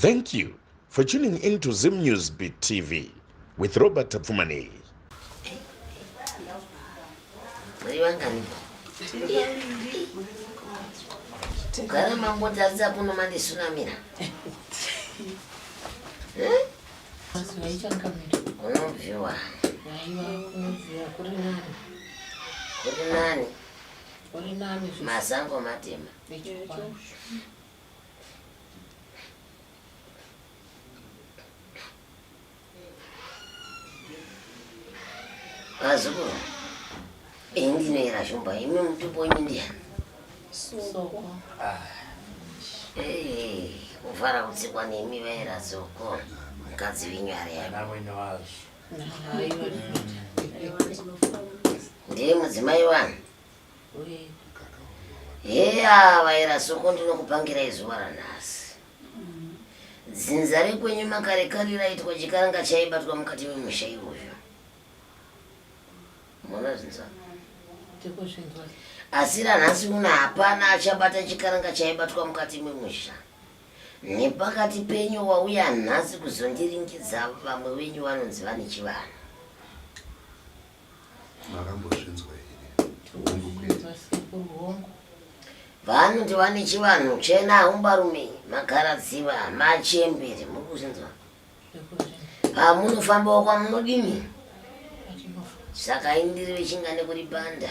Thank you for tuning in to Zim News Beat TV with Robert Tapfumanei. Kugara mambo taridza kuno mandisunamira. Unobviwa. Kuri nani? Kuri nani? Masango matema. Azukuru, bendinoera shumba imi mutupo wenyu ndiyani? Soko. Ah. Hey, kuvara kutsikwa nemi vaera zoko mukadzi venyu ari yami. Amwene wazvo. Ndiye mudzimai wani? heya vaira soko ndinokupangirai zuva ranhasi dzinza rekwenyu makare kare raitwa chikaranga chaibatwa mukati memusha iwoyo mona zinza asi ranhasi uno hapana achabata chikaranga chaibatwa mukati memusha nepakati penyu wauya nhasi kuzondiringidza vamwe venyu vanonzi vane chivanhu Makambozvinzwa vanhu ndi vane chivanhu chena haumbarume magaradziva machembere muri kuzvinzwa hamunofambawo ah, kwamunodini saka indiri vechingane kuri banda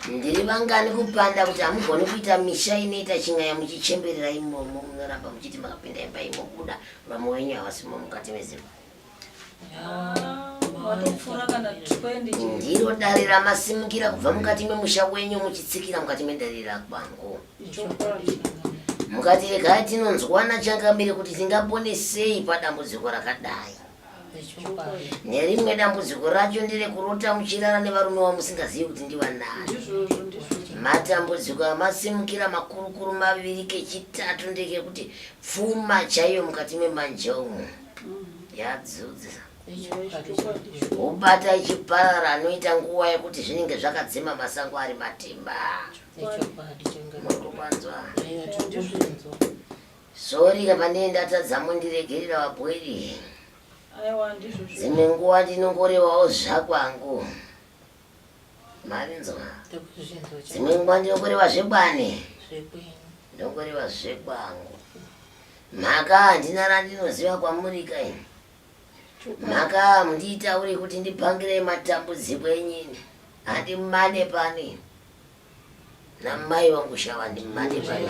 ndiri vangani kupanda kuti hamugoni kuita misha inoita chingaya muchichemberera imomo munoramba muchiti makapinda imba imobuda vamwe wenyu havasimo mukati mezimba ndiro dare ramasimukira kubva mukati memusha wenyu muchitsikira mukati medare rakwangu mukati regai tinonzwana changamire kuti tingapone sei padambudziko rakadai nerimwe dambudziko racho nderekurota muchirara nevarume wamusingazivi kuti ndivanani matambudziko amasimukira makurukuru maviri kechitatu ndekekuti pfuma chaiyo mukati memanje umu yadzudza ubata ichiparara anoita nguva yekuti zvinenge zvakadzima masango ari matimba murikupanzwa Sorry apa ndini ndatadza mundiregerera vabhoiri. Aiwa ndizvo zvo. Dzimwe nguva ndinongorewawo zvakwangu. Marinzwa. Ndakuzvinzwa chete. Dzimwe nguva ndinongorewa zvekwani. Zvekwenyu. Ndongorewa zvekwangu. Mhaka handina randinoziva kwamuri kai. Mhaka mundiitaure kuti ndipangire matambudziko enyini. Handimane pani. namai vangu shava ndimade pano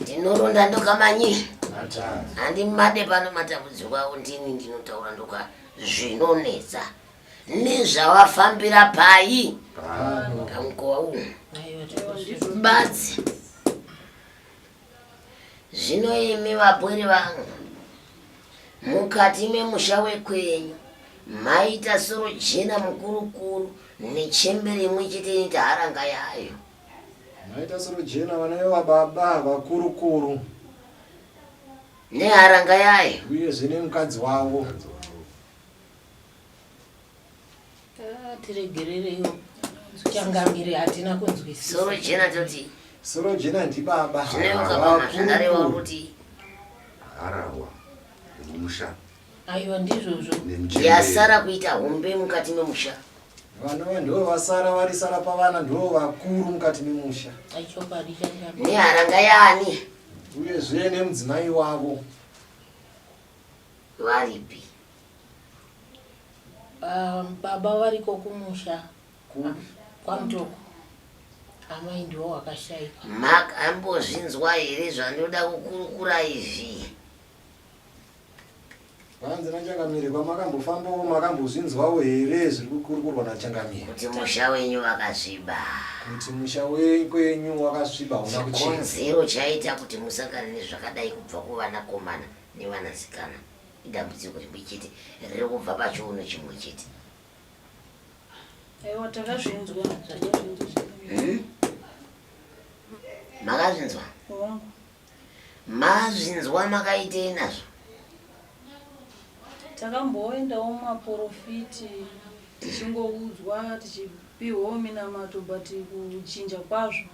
ndinoronda ndokamanyi handimade pano matambudziko avo ndini ndinotaura ndoka zvinonetsa nezvavafambira pai pamukova umu batsi Zvino imi vapwere vangu, mukati memusha wekwenyu maita sorojena mukurukuru nechembere imwe chete ine taharanga yayo. Maita sorojena vana vevababa vakurukuru neharanga yayo, uyezve nemukadzi wavo. tiregerereiwo changamire hatina kunzwisisa soro jena toti soro jena ndibaba zvineukapanazvandarewa kuti harahwa nemusha aiwa ndizvozvo yasara kuita hombe mukati memusha vanova ndivo vasara varisara pavana ndivo vakuru mukati memusha neharanga yani uyezve nemudzimai wavo varipi Um, baba variko kumusha kwamtoko amai ndiwo wakashaika mak ambozvinzwa here zvandoda kukurukura izvi vanzi nachangamire kwamakambofambawo makambozvinzwawo here zviri kukurukurwa nachangamire kuti musha wenyu wakasviba kuti musha wekwenyu wakasviba una kuchikonzero chaita kuti musangane nezvakadai kubva kuvanakomana nevanasikana idambudziko rimwe chete riri kubva pachiuno chimwe chete aiwa takazvinzwa hmm? makazvinzwa mazvinzwa makaitei nazvo takamboendawo maporofiti tichingoudzwa tichipihwawo minamato but kuchinja kwazvo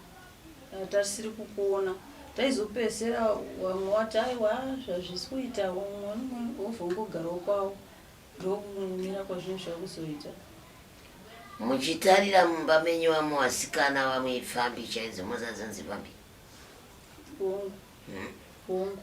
Tarisiri kukuona taizopedzera wamwe wati aiwa zvazvisi kuita umwe umwe wobva ungogarawo kwawo ndokumira kwazvinhu zvakuzoita muchitarira mumba menyu vamwe vasikana vamwe ipfambi chaidzo mozadzanzi pambi hongu hongu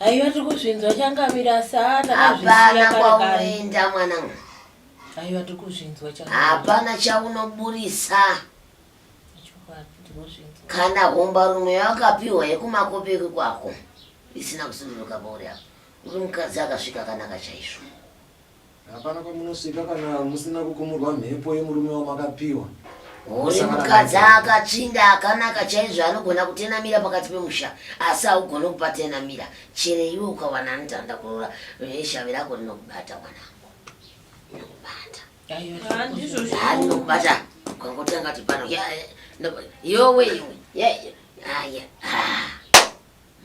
Aiwa tiri kuzvinzwa changamire asi haa takazvisiya kwaunoenda mwanangu. Aiwa tiri kuzvinzwa changamire. Hapana chaunoburisa. Kana homba rumwe yawakapiwa yekumakope kwako isina kusunduruka pauri apa. Uri mukadzi akasvika akanaka chaizvo. Hapana kwamunosvika kana musina kukumurwa mhepo yemurume wamakapiwa. Uyu mukadzi akatsvinda akanaka chaizvo anogona kutenamira pakati pemusha asi haugone kupatenamira chero iwe ukawana anotanda kurora veshavi rako rinokubata mwanangu inokubata inokubata ukangotanga ti pano yowe iwe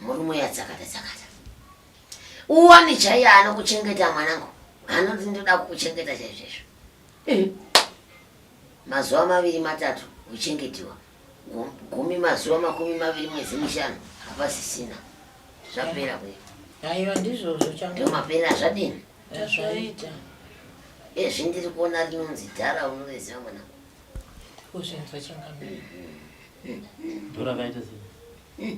murume yatsakata tsakata uwani chaiye anokuchengeta mwanangu anoti ndoda kukuchengeta chaizvezvo eh. mazuva maviri matatu uchengetiwa gumi mazuva makumi maviri mwedzi mishanu hapasisina zvapera kuya aiwa ndizvozvo ndomapera zvadini azvaita ezvi ndiri kuona rinonzi dhara unoveziva mwana kuzvinzwa chingamira ndorakaita sei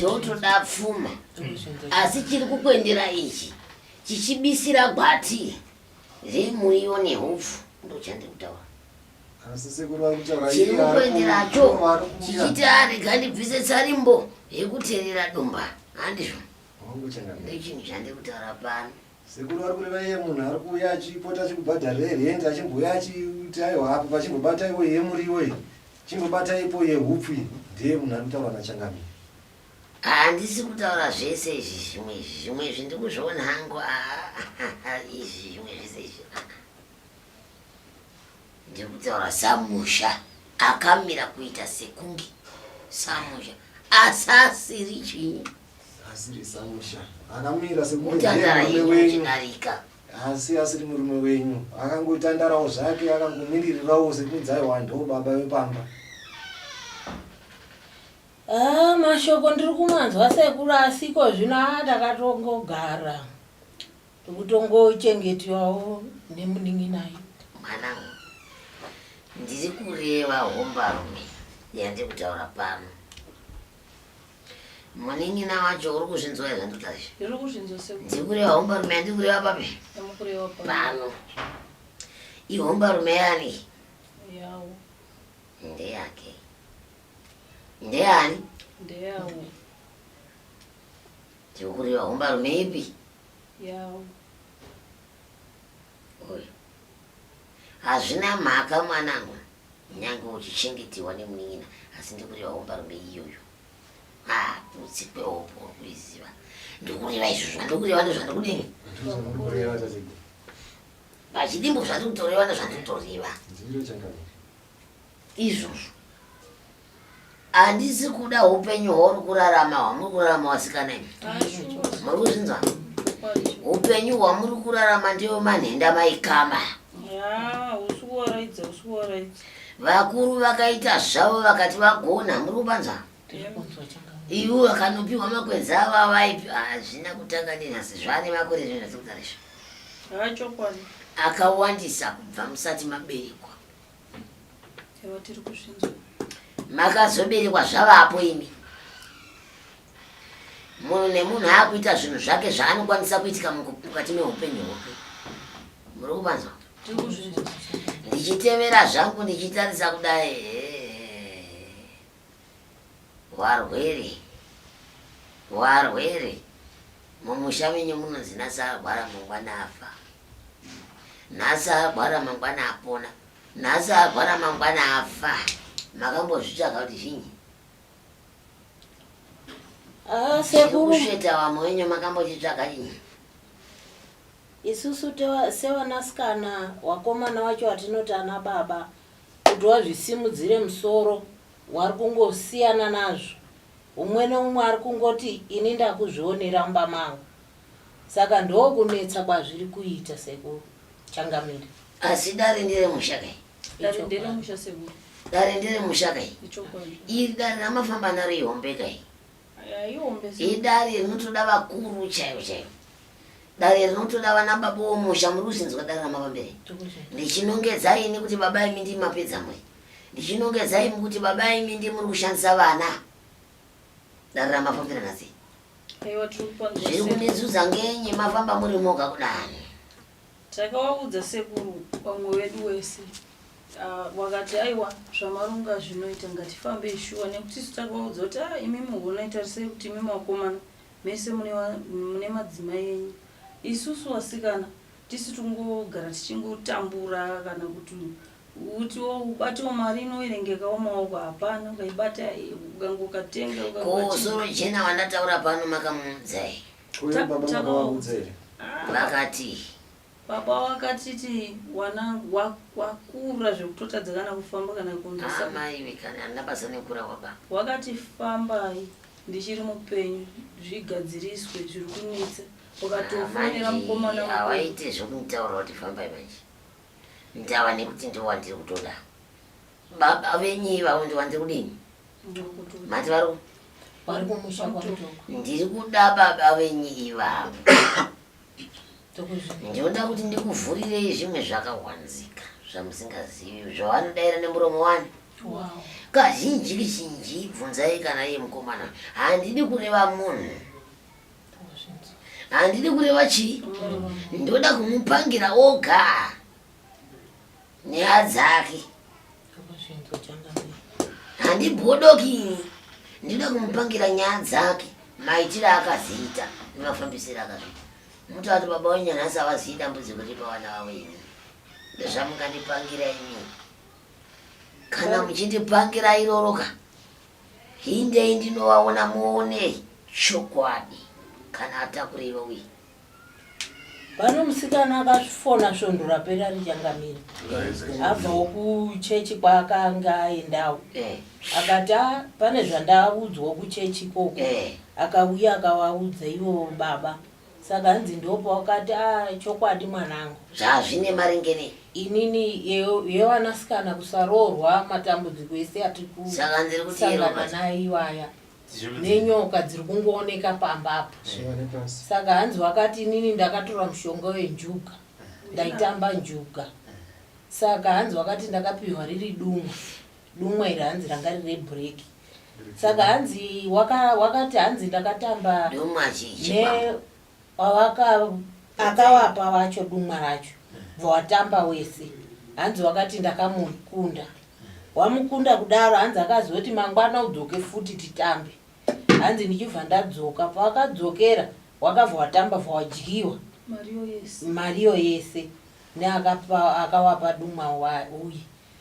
totoda pfuma asi chiri kukwendera ichi chichibisira gwati remuriwo nehupfu ndochandiri kutaura chiri kukwenderacho chichiti arega ndibvise tsarimbo yekuterera dumba handizvo ndechinhu chandiri kutaura pano Sekuru vari kureva iye munhu ari kuuya achipota achikubhadharira rent achimbouya achiti aiwa apo pachimbobata iwo yemuriwo iyi chimbobata ipo yehupfu iyi ndeye munhu ari kutaurwa nachangami handisi kutaura zvese izvi zvimwe izvi zvimwe izvi ndiri kuzviona hangu izvi zvimwe zvese izvi ndiri kutaura samusha akamira kuita sekunge samusha asasiri chii Asiri Samusha. Akamira sekunge Mutandara ndiye murume yenyu wenyu. ichinarika. Asi asiri murume wenyu. Akangotandarawo zvake akangomiririrawo sekunzi aiwa ndo baba vepamba. Ah, mashoko ndiri kumanzwa sekuru asiko zvino ah, ndakatongogara ndikutongochengetiwawo nemunin'inayi Mwanangu, ndiri kureva hombarume yandiri kutaura pano. Munin'ina wacho uri kuzvinzwa here zvanditaura izvi? Ndiri kuzvinzwa sekuru. Ndiri kureva hombarume yandiri kureva papi? Ndiri kureva papi? Pano. Ihombarume yani? Yawo. Ndeyake. Ndeyani? Ndeyawo. Ndiri kureva hombarume ipi? Yawo. Uyu. Hazvina mhaka mwanangu. Nyange uchichengetewa nemunin'ina asi ndikureva hombarume iyoyo. Haa kutsi kwehopo uri kuiziva. Ndikureva izvo zvandikureva ndozvandikudini? Pachidimbo zvandikutoreva ndozvandikutoreva. Izvozvo. Handisi kuda hupenyu hwauri kurarama hwamuri kurarama wasikana imi. Muri kuzvinzwa? Hupenyu hwamuri kurarama ndiyo manhenda maikama. Vakuru vakaita zvavo vakati vagona muri kupanzwa? Ivo vakanopiwa makwenzi avo avaipi hazvina kutanga nenhasi zvane makore zvino zvasikutarisha. Akawandisa kubva musati maberekwa. Ewa tiri kuzvinzwa. Makazoberekwa zvavapo imi. Munhu nemunhu akuita zvinhu zvake zvaanokwanisa kuitika mukati meupenyu hwake. Muri kupanzwa? Tiri kuzvinzwa. Ndichitevera zvangu ndichitarisa kudai. Warwere. Warwere. Mumusha menyu munonzi nasarwara mangwana afa. Nhasi arwara mangwana apona. Nhasi arwara mangwana afa. Makambozvitsvaga kuti zvinyi? Ah, sekuru. Kusveta wamwe wenyu makambochitsvaga chinyi? Isusu sevanasikana wakomana wacho watinoti ana baba kuti wazvisimudzire musoro wari kungosiyana nazvo umwe neumwe ari kungoti ini ndakuzvionera mumba mangu Saka ndokunetsa kwazviri kuita sekuru changamire. Asi dare ndere musha kai. Dare ndere musha sekuru. Dare ndere musha kai. Ichokwadi. Iri dare ramafamba naro ihombe kai. Aya ihombe sekuru. Idare rinotoda vakuru chaivo chaivo. Dare rinotoda vana baba vomusha muri kuzinzwa dare ramavambere. Ndichinongedza ini kuti baba imi ndi mapedza mwe. Ndichinongedza imi kuti baba imi ndi muri kushandisa vana. Dare ramafambira nasi. zviri kundizudza ngenyi mafamba muri moga kudani takawaudza sekuru vamwe vedu wese ah, wakati aiwa zvamarunga zvinoita ngatifambei shuwa nekuti isu takawaudza kuti a ah, imi muhonaitarisei kuti imi makomana mese mune madzimai enyu isusu vasikana tisi tingogara tichingotambura kana kuti Uti wo ubate wo mari inoverengeka wo maoko hapana ukaibata ukange ukatenga Ko ukabati soro jena wandataura pano makamuudza here? Ko Ta- ivo baba takawa- makavaudza here? Ah, Vakati baba wakatiti wanangu wa- wakura zvekutotadza kana kufamba kana kumbisa amai vekani handina basa nekura kwababa. wakati fambai ndichiri mupenyu zvigadziriswe zviri kunetsa wakatofonera mukomana wako hawaite zvekunditaura kuti fambai manje ndava nekuti ndivo wandiri kutoda baba venyu ivavo ndivo wandiri kudini mati vari vari kumusha kwamutoko ndiri kuda baba venyu ivavo ndinoda kuti ndikuvhurirei zvimwe zvakawanzika zvamusingazivi zvavanodaira nemuromo wani kazhinji kizhinji bvunzai kana iye mukomana handidi kureva munhu handidi kureva chii ndoda kumupangira oga nyaya dzake handibhodoki ndinoda kumupangira nyaya dzake maitire akaziita nemafambisiro akaziita muti vati baba wenyu nhasi avazivi dambudziko riri pavana vavo ini ndozvamungandipangira ini kana muchindipangira iroroka Hindei ndinovaona muone chokwadi kana atakura iwe uye. Pano musikana akazvifona svondo rapera richangamira abvawo kuchechi kwaakanga aendawo Eh, akati "Ah, pane zvandaudzwa kuchechi ikoko eh. akauya akavaudza ivo baba Saka hanzi ndopa wakati ah chokwadi mwanangu. Zvaa zvine maringe nei. Inini yevanasikana kusaroorwa matambudziko ese atiri kusangana naye iwaya nenyoka dziri kungooneka pamba apa saka hanzi wakati inini ndakatora mushonga wenjuga ndaitamba njuga saka hanzi wakati ndakapihwa riri dumwa Dumwa iri hanzi ranga rine break. Saka hanzi waka wakati hanzi ndakatamba Dumwa zhinji ne pamwe. pawaka akawapa wacho dumwa racho bva watamba wese hanzi wakati ndakamukunda wamukunda kudaro hanzi akazoti mangwana udzoke futi titambe hanzi ndichibva ndadzoka pawakadzokera wakabva watamba bva wadyiwa Mario yes. mariyo yese neakapa akawapa dumwa wa- uye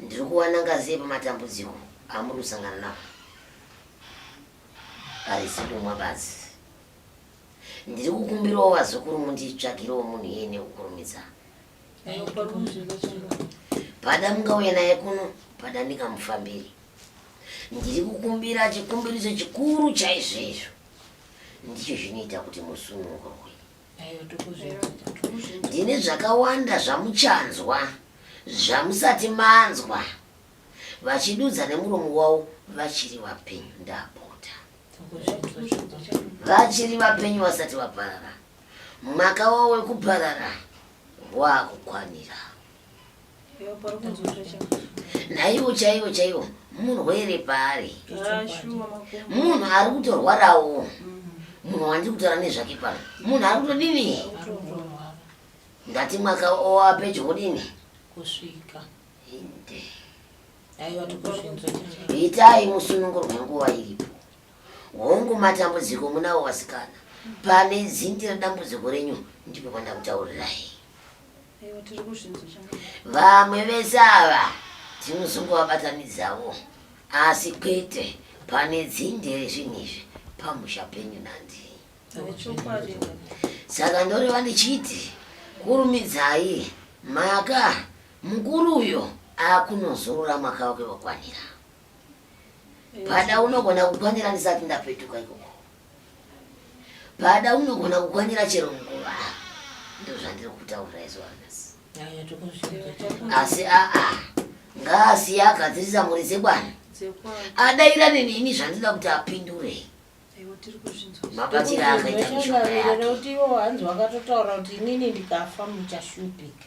Ndiri kuwana ngazi yei pamatambudziko amuri kusangana nawo? Harisi kumwa badzi. Ndiri kukumbirawo vazukuru munditsvagirewo munhu iye nekukurumidza. Pada mungauya naye kuno, pada ndingamufambiri. Ndiri kukumbira chikumbiriso chikuru chaizvoizvo. Ndicho zvinoita kuti musunungurwe. ini zvakawanda zvamuchanzwa zvamusati manzwa vachidudza nemuromo wavo vachiri vapenyu ndapota vachiri vapenyu vasati vaparara mwaka wavo wekuparara wakukwanira naivo chaivo chaivo murwere paari munhu ari kutorwarawo munhu wandi kutaura nezvake pano munhu ari kutodini ndati mwaka owa pedyo kudini kusvika itai musununguro wenguva iripo hongu matambudziko munavo vasikana pane zindi redambudziko renyu ndipo kwandakutaurirai vamwe vese ava tinozongovabatanidzawo asi kwete pane dzinde rezvinhu izvi pamusha penyu nandi saka ndoreva ndichiti kurumidzai maka mukuru uyo akunozorora mwaka wake wakwanira Pada unogona kukwanira ndisati ndapetuka ikoko. Pada unogona kukwanira chero nguva. Ndizvo zvandiri kutaura isu anasi. Asi aa ngaasiye agadzirisa mhuri dzekwana. Adaira neni ini zvandida kuti apindure. Mabatira akaita mishonga yake. Kuti iwo hanzi wakatotaura kuti inini ndikafa muchashupika.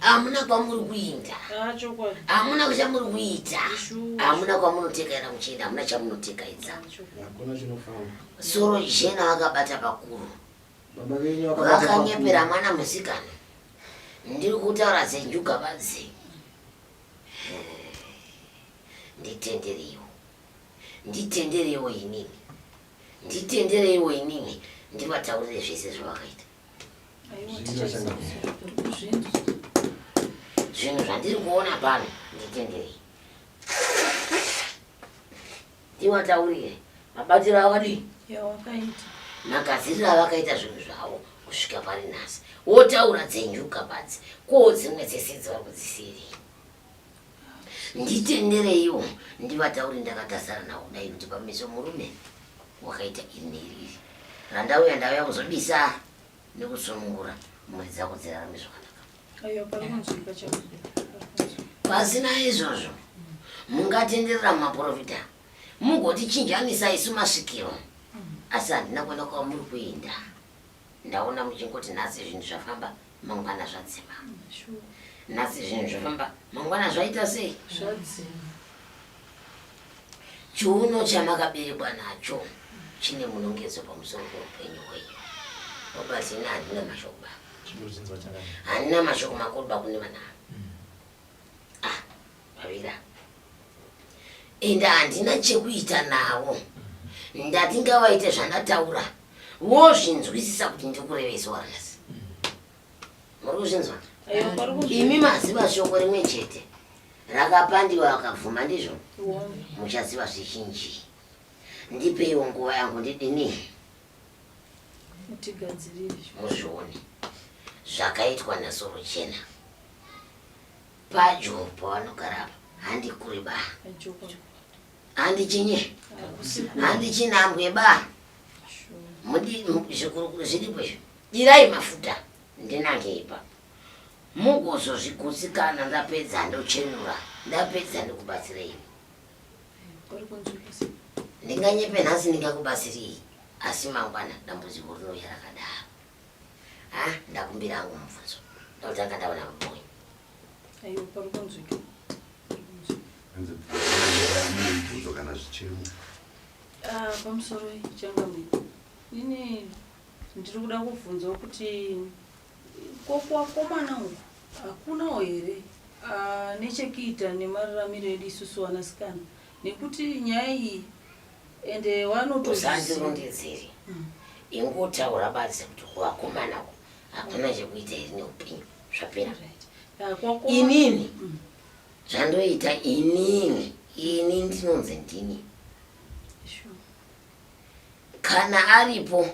hamuna kwamuri kuinda hamuna kuchamuri kuita hamuna kwamunoteka ena muchienda hamuna chamunoteka idza soro jena vakabata pakuru vakanyepera mwana musikana ndiri kutaura zenjuga vadzi nditendereiwo nditendereiwo inini nditendereiwo inini ndivataurire zvese zvavakaita zvinhu zvandiri kuona pano nditenderei ndiwataurire mabatiro avadii magadziriro avakaita zvinhu zvavo kusvika pari nhasi wotaura dzenyuka badzi koo dzimwe dzese dzavari kudzisiirei Nditendereiwo ndivataure ndakatarisana navo kudai kuti pameso murume wakaita iri neiri iri randauya ndauya kuzobisa nekusunungura mhuri dzako dzirarame zvakanaka. Pasina izvozvo mungatenderera mumaporofita mugotichinjanisa isu masvikiro asi handina kuona kwamuri kuenda. ndaona muchingoti nhasi zvinhu zvafamba mangwana zvadzima nhasi zvinhu zvafamba mangwana zvaita sei zvadzima chiuno chamakaberekwa nacho chine munongedzo pamusoro peupenyu hwenyu obati ini handina mashoko ba handina mashoko makuru bakune vana mm. ah Mavira. Ende handina chekuita navo. Ndati ngavaite zvandataura. Wozvinzwisisa kuti ndikurevesa warasi. Muri kuzvinzwa? Imi maziva shoko rimwe chete. Rakapandiwa vakabvuma ndizvo. Muchaziva zvizhinji. Ndipeiwo nguva yangu ndidini. Muzvione. Zvakaitwa nasoro chena. Pajopo vanogara apa handi kuri ba. Handi chinye. Handi chinambwe ba. Mudi zvikurukuru zviripo izvo. Dirai mafuta ndinange ipa. Mugozozvigutsikana ndapedza ndochenura. Ndapedza ndikubatsirei. Ndinganyepe nhasi ndingakubatsirei asi mangwana dambudziko rinouya rakadaro. Ha, ndakumbira hangu mubvunzo. Ndotanga ndaona mumwe. Ayo pambonzwike. Hanzi mubvunzo kana zvichemo. Ah, pamusoro changamwe. Ini ndiri kuda kubvunzawo kuti ko kuwakomana uku hakunawo here ah, nechekuita nemararamiro edu isusu vanasikana nekuti nyaya iyi ende wanotozivasandirondedzeri hmm. ingotaura badzi kuti kuvakomana ku hakuna chekuita iri neupenyu zvapera inini hmm. zvandoita inini ini ndinonzi ndini kana aripo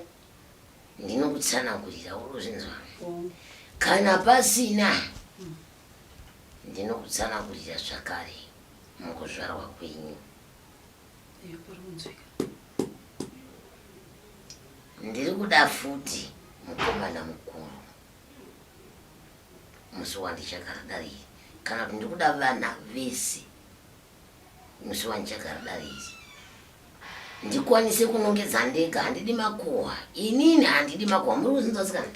ndinokutsanangurira urozvinzwa oh. kana pasina hmm. ndinokutsanangurira zvakare mukuzvarwa kwenyu ndiri kuda futi mukomana mukuru musi wandichakaridariri kana kuti ndiri kuda vana vese musi wandichakaridariri ndikwanise kunongedza ndega handidi makuhwa inini handidi makuhwa muri kuzinzasikana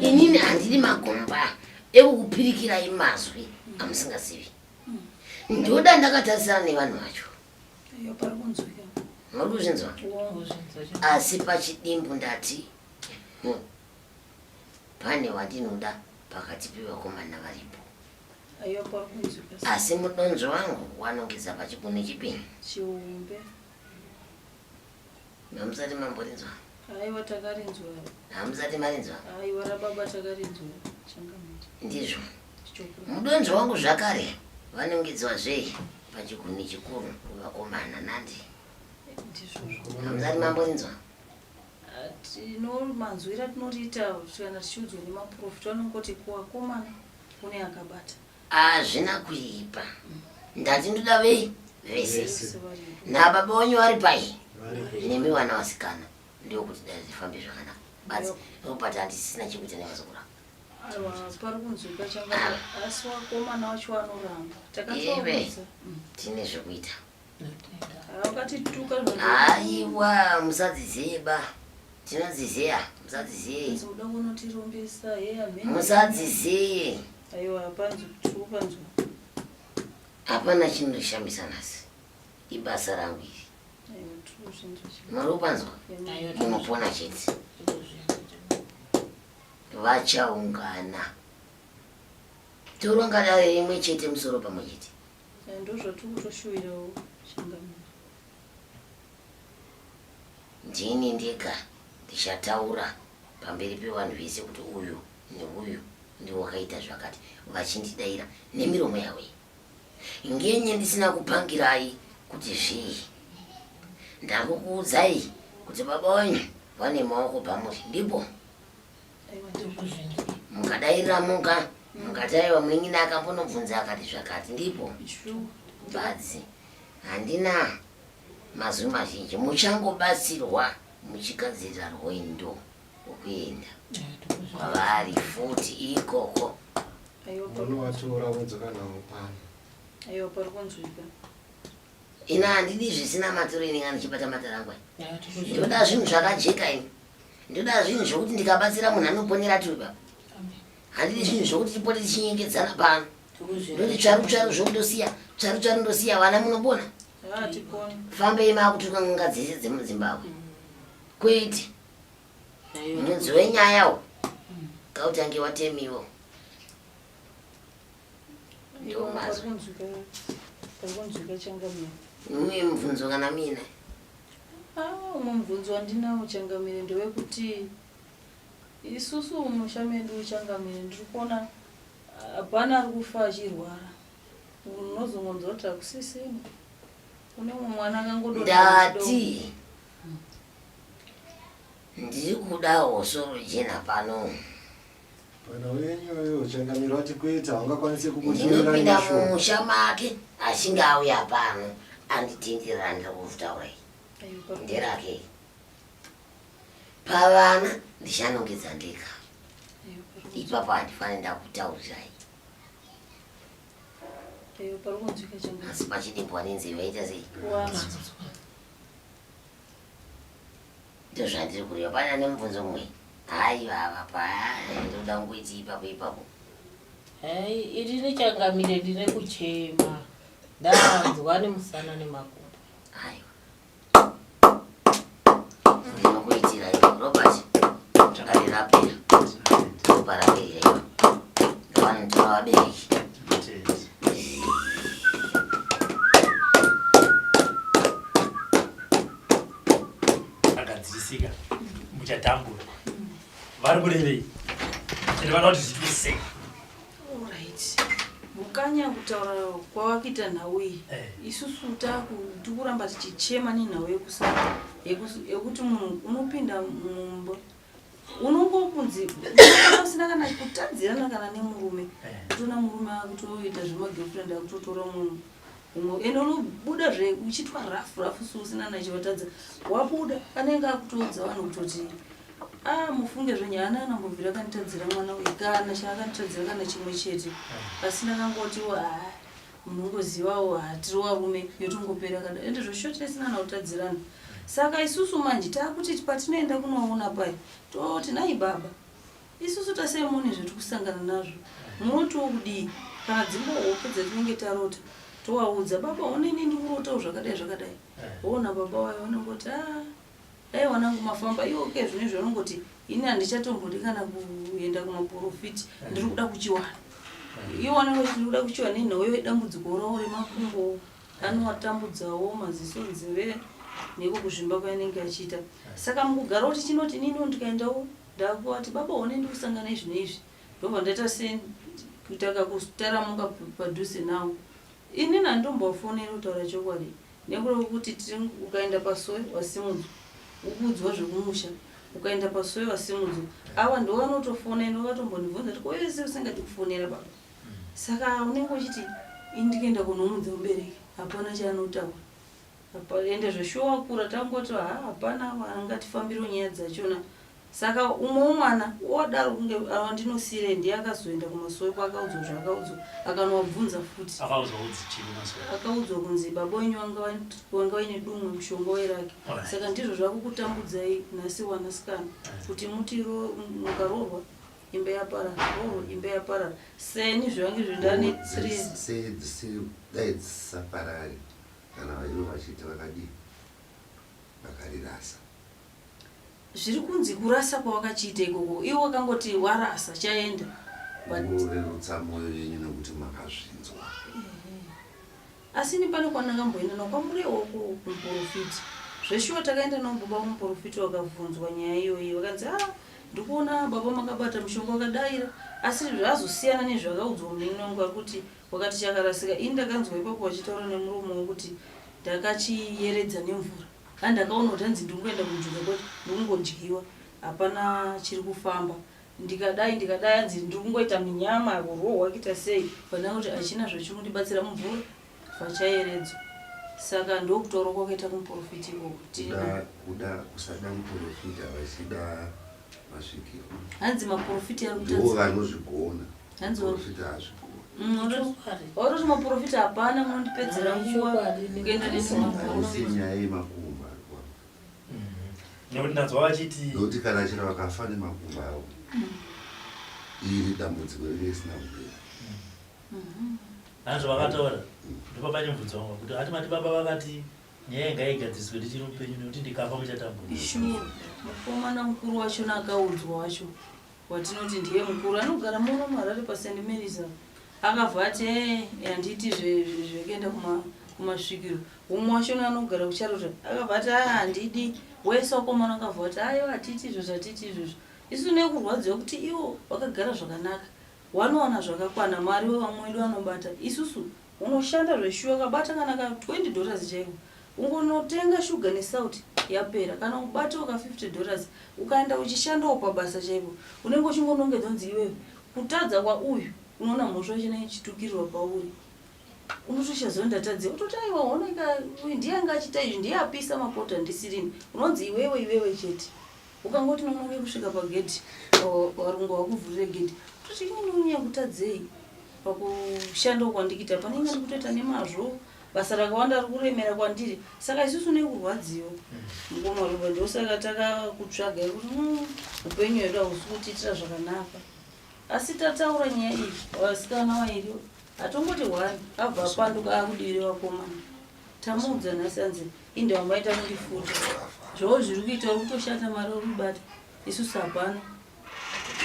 inini handidi magomba ekukupirikirai mazwi amusingazivi ndoda ndakatarisana nevanhu vacho muri kuzvinzwa asi pachidimbu ndati hm, pane wandinoda pakati pevakomana varipo asi mudonzvo wangu wanongeza pachikune chipini Hamusati mamborinzwa? Aiwa takarinzwa. Hamusati marinzwa? Aiwa rababa takarinzwa. Changamire. Ndizvo. Mudonzvo wangu zvakare vanongidzwa zvei pachigumi chikuru kuvakomana nandi. Hamusati mamborinzwa? Tinomanzwira tinoriita kana tichiudzwa nemaprofita anongoti kuvakomana kune akabata. Hazvina kuipa. Ndati ndoda vei vese. Nababa wenyu vari pai? Nemi vana vasikana ndiwo kuti dai zvifambe zvakanaka. Basi nokupati handisisina chekuita nevazukuru Aiwa, pari kunzwika changa asi wakomana wacho anoramba. Ive Takatsoudza. tine zvekuita. aiwa musadzizeba tinodzizeya musadzizeye musadzizeye hapana chinondishamisa nhasi ibasa rangu iri muri kupanzwa munopona chete vachaungana toronga dare rimwe chete musoro pamwe chete Saka ndozvatiri kutoshuwirawo changamire. Ndini ndega ndichataura pamberi pevanhu vese kuti uyu neuyu ndiwo wakaita zvakati vachindidaira nemiromo yavo iyi. Ngenye ndisina kupangirai kuti zvii. Ndangokuudzai kuti baba wenyu vane maoko pamuri ndipo. mukadairira muka mukataiwa munin'ina akambonobvunza akati zvakati ndipo badzi handina mazwi mazhinji muchangobatsirwa muchigadzirira rwendo rwokuenda kwavari futi ikoko unovatora wodzoka navo pano aiwa pari kunzwika ina handidi zvisina maturo ini ngani chibata matarangu ndoda zvinhu zvakajeka ini ndoda zvinhu zvokuti ndikabatsira munhu anoponera tiri papa handidi zvinhu zvokuti tipote tichinyengedzana pano ndoti tsvaru tsvaru zvokutosiya tsvaru tsvaru ndosiya vana munopona fambei maakutuka n'anga dzese dzemuzimbabwe mm. kwete mudzi wenyaya wo mm. kautange watemiwo mune mubvunzo kana mina ah, umwe mubvunzo wandinawo changamire ndewekuti isusu umusha medu changamire ndiri kuona hapana ari kufa achirwara unozongonzwa kuti hakusisina kune umwe mwana akangodati ndiri kudawo sorojena pano Mwana wenyu uyu uchangamira wati kuita haungakwanise kukushumira musha make achinge auya pano anditindira ndiri kuvutaura iyi nderake pavana ndichanongedza ndega ipapo handifanire ndakutaurirai asi pachidimbo wanenzeve aita sei Ndozvandiri kureva pane ane mubvunzo mumwe hayi vava paya ndoda kungoiti ipapo ipapo hayi iri richangamire ndine kuchema ndanzwa nemusana nemakumbo hayi ndinokuitira iyo robert ndarirapira ndoparapeira iyo ndovanotora vabereki akadzirisika muchatambura vari kurevei ende vana kuti zviitwe sei mukanya kutaura kwavakuita nhau iyi eh. isusu takuramba tichichema nenhau yekusara yekuti munhu unopinda mumba unongo kunzi usina kana kutadzirana kana nemurume eh. kutoona murume akutoita zvemagirlfriend akutotora munhu umwe ende unobuda zve uchitwa rafu rafu si usina nachivatadza wabuda anenge akutoudza vanhu kutoti a ah, mufunge zvenyu ana anambobvira akanditadzira mwana uyu kana chaakanditadzira kana chimwe chete eh. pasina kangoti wa ah, Munongozivawo haa tiri warume yotongopera kadaro ende zvoshoter isina kana kutadzirana. Saka isusu manje takuti patinoenda kunoona paye toti nhai baba isusu tasai muone zvatirikusangana nazvo munotiwo kudii kana dzingori hope dzatinenge tarota tovaudza baba honai nei ndikurotawo zvakadai zvakadai woona baba vaye vanongoti haa Dai wanangu mafamba iwo ke zvine zvaunongoti ini handichatombodi kana kuenda kumaporofiti ndiri kuda kuchiwana. Iwo wanangu ndiri kuda kuchiwana ini hoyo dambudziko rawo remakumbo anowatambudzawo maziso nzeve neko kuzvimba kwainenge achiita. Saka mukugara kuti chinoti ini ndo ndikaendawo ndakuwati baba one ndi kusangana izvi neizvi ndobva ndaita se kutaka kutaramuka padhuze nawo. Ini nandombowafonera kutaura chokwadi Nekuda kwekuti tiri ukaenda pasowe wasimudzwa ukuudzwa zvekumusha ukaenda pasowe wasimudzwa ava ndo vanotofona ino vatombondibvunza kuti koyese usingati kufonera baba saka unenge uchiti ini ndikuenda kunomudza mubereki hapana chaanotaura ende zveshuwa kura tangoti ha hapana angatifambiro nyaya dzachona Saka umwe umwana odaro kunge awa ndinosiirei ndiye akazoenda kumasowe kwaakaudzwa zvaakaudzwa akanowabvunza futi. Akaudzwa kudzi chii kumasowe? Akaudzwa kunzi baba wenyu wanga wanga waine dumwe mushonga wairake. Alright. Saka ndizvo zvakukutambudzai nhasi wanasikana kuti muti ro, mukaroorwa imba yaparara, roorwa imba yaparara. Seni zvange izvo ndane three Dzis- sei dzisiri dai dzisaparari kana vaive vachiti vakadii vakarirasa Zviri kunzi kurasa kwawakachiita ikoko iwe wakangoti warasa chaenda but Murerutsa moyo yenyu nekuti makazvinzwa. asi ini pane kwandakamboenda nako kwamurewa uko kumuporofita zveshuwa takaenda navo baba kumuporofita vakavhunzwa nyaya iyoyi vakanzi ah ndikuona baba makabata mushonga wakadaira asi zvazosiyana nezvakaudzwa munin'ina wangu ari kuti wakati chakarasika ini ndakanzwa ipapo vachitaura nemuromo wavo kuti ndakachiyeredza nemvura Kaa ndakaona kuti hanzi ndikungoenda kuJuda kwacho ndikungodyiwa hapana chiri kufamba ndikadai ndikadai hanzi ndiri kungoita minyama kurohwa kuita sei pandanga kuti hachina zvachiri kundibatsira mumvura vachayeredzwa saka ndokutaura kwakaita kumuporofita ikoko tikuda kusada muporofita vachida masvikiro hanzi maporofita ari kutandiwo vanozvigona hanzi profita hazviko oro zvimaprofita hapana munondipedzera nguva kuenda nesinyaya yemakumba nekuti ndanzwa vachiti nokuti kana chero vakafa nemakumba avo iri dambudziko renge risina kupera hanzi vakataura ndipo pane mvunzo wangu kuti hati mati baba vakati nyaya inga igadziriswe ndichiri mupenyu nekuti ndikafa muchatambuisho mukomana mukuru wachona akaudzwa wacho watinoti ndiye mukuru anogara muno muharare pasaint marys akabva ati ee handiiti zvekuenda kumasvikiro umwe wachona anogara kucharota akabva ati aa handidi wese wakomana akabva ati ayo hatiiti izvozvo hatiiti izvozvo isu nekurwadziwa kuti iwo wakagara zvakanaka wanowana zvakakwana mwari wevamwe wedu anobata isusu Unoshanda zveshuwa ukabata kana ka 20 dollars chaiko ungonotenga sugar nesalt yapera kana ubatawo ka 50 dollars ukaenda uchishandawo pabasa chaipo unenge uchingonongedza kunzi iwewe kutadza kwauyu unoona mhosva yachina ichitukirirwa pauri unotoshazoo ndatadze utoti aiwa honeka uyu ndiye anga achita izvi ndiye apisa mapota ndisirini unonzi iwewe iwewe chete ukangoti nonoke kusvika pagedhi varungu vakuvhurire gedhi toti inini unya kutadzei pakushanda kwandikita panenge ndi kutoita nemazvo basa rakawanda ri kuremera kwandiri saka isusu ne kurwadziwa mukomaruva ndo saka takakutsvaga yekuti mm, upenyu hwedu hausi kutiitira zvakanaka asi tataura nyaya iyi vasikana vairi atongoti hwani abva apanduka akudivire vakomana Tamuudza nhasi anzi inda wamaita kundifuta. Zvoo zviri kuita uri kutoshata mari uri kubata. Isu sapano.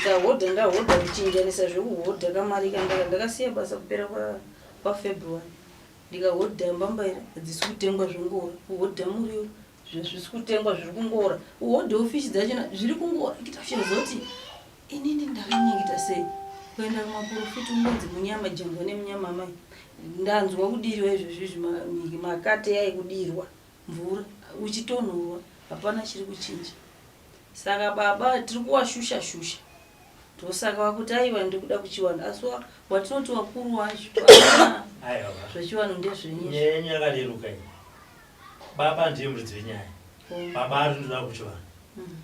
Ndahodha ndahodha kuchinjanisa zvekuhodha kamari kandaka ndakasiya basa kupera kwa kwa February. Ndikahodha mbambaira hadzisi kutengwa zvongowa kuhodha muriwo. zvisi kutengwa zviri kungora uhodhe ufishi dzachona zviri kungora kita uchizoti inini ndakanyengeta sei kuenda kumaporofiti unonzi munyama jengwa nemunyama amai ndanzwa kudirwa izvezvizvi makate yai kudirwa mvura uchitonhorwa hapana chiri kuchinja saka baba tiri kuwashusha shusha ndosaka wakuti aiva ndikuda kuchiwana asi watinoti wakuru wacho zvechiwanhu ndezvenyaya yakareruka Baba ndiye muridzi wenyaya. Eh. Baba ari ndoda kuchivanhu. Mm.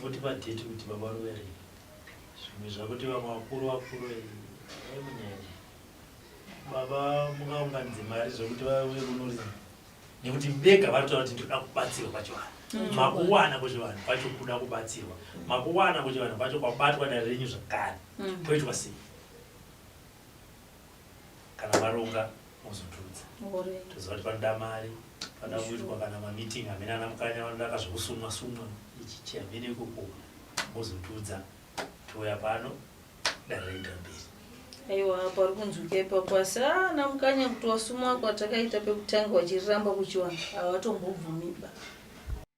Votipa date kuti baba vari kuya rini. Zvimwe zvakuti vamwe vakuru vakuru eh, eh, munyaya. Baba mungaunganidze mari zvokuti vauye kuno rini. Nekuti vega vari kutaura kuti ndinoda kubatsirwa pachivanhu. Mm. Makuwana kuchivanhu kwacho kuda kubatsirwa. Mm. Makuwana kuchivanhu kwacho kwabatwa dare renyu zvakare. Mm. Poitwa sei? kana maronga mozotiudza toziva kuti panoda mari panoda kuitwa kana mameeting amene ana mukanya vanoda kazvekusumwa sumwa ichichi amene ikoko mozotiudza touya pano dare raenda mberi aiwa apa ari kunzwika ipapo asi ana ah, mukanya kuti wasumwa kwatakaita pekutanga wachiriramba kuchiwana hawatombobvumiba